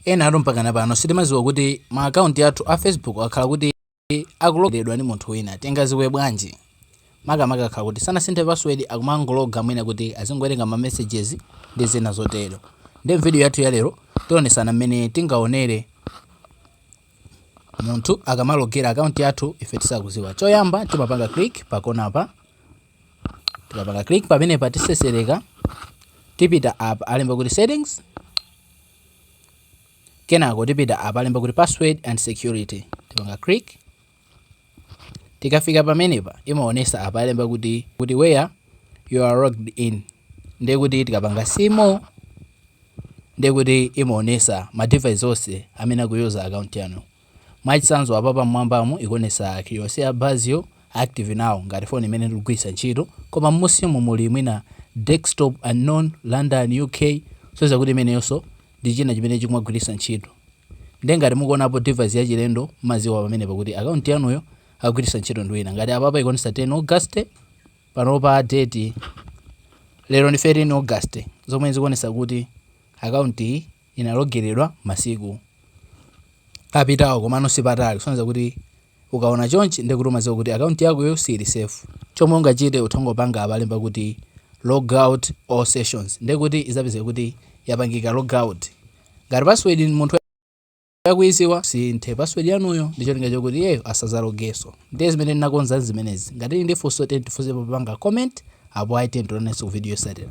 Enatu mpakana pano sitimadziwa kuti ma account yathu a Facebook akhala kuti akulogeredwa ndi munthu wina. Tingadziwe bwanji? Makamaka akhala kuti sanasinthe password akumangologa mwina kuti azingowerenga ma messages ndi zina zotero. Nde m'video yathu yalero tionetsana mmene tingaonere munthu akamalogera account yathu ife tisakudziwa. Choyamba timapanga click pakonapa. tikapanga click pamenepa tisesereka tipita apa alemba kuti settings kenako tipita apa alemba kuti password and security tipanga click tikafika pamenepa imaonesa apa alemba kuti where you are logged in ndiye kuti tikapanga simo ndiye kuti imaonesa ma device onse amene akuyuza account yanu Mwachitsanzo apa pamwambamu ikuonetsa kiyosi ya Bazio active now ngati phone imene ndikugwiritsa ntchito koma m'musimu muli mwina Desktop unknown, London, UK kusonyeza kuti imeneyonso ndi china chimene chikumagwiritsa ntchito. Ndiye ngati mukuonapo device yachilendo mumadziwa pamenepa kuti account yanuyo akugwiritsa ntchito ndi wina. Ngati apapa ikuonetsa 10 August panopa date lero ndi 13 August zomwe zikuonetsa kuti account iyi inalogeredwa masiku apitawo komano sipatali kusonyeza kuti ukaona chonchi ndekuti umadziwa kuti account yakoyo siili safe chomwe ungachite utha kungopanga apa alemba kuti logout all sessions ndekuti idzapezeka kuti yapangika logout ngati password munthu akuidziwa sinthe password yanuyo ndi cholinga chokuti iyeyo asadzalogeso ndiye zimene ndinakonza nzimenezi ngati muli ndi funso tiyeni tifunse popanga comment apo ayi tiyeni tionanenso ku video yosatira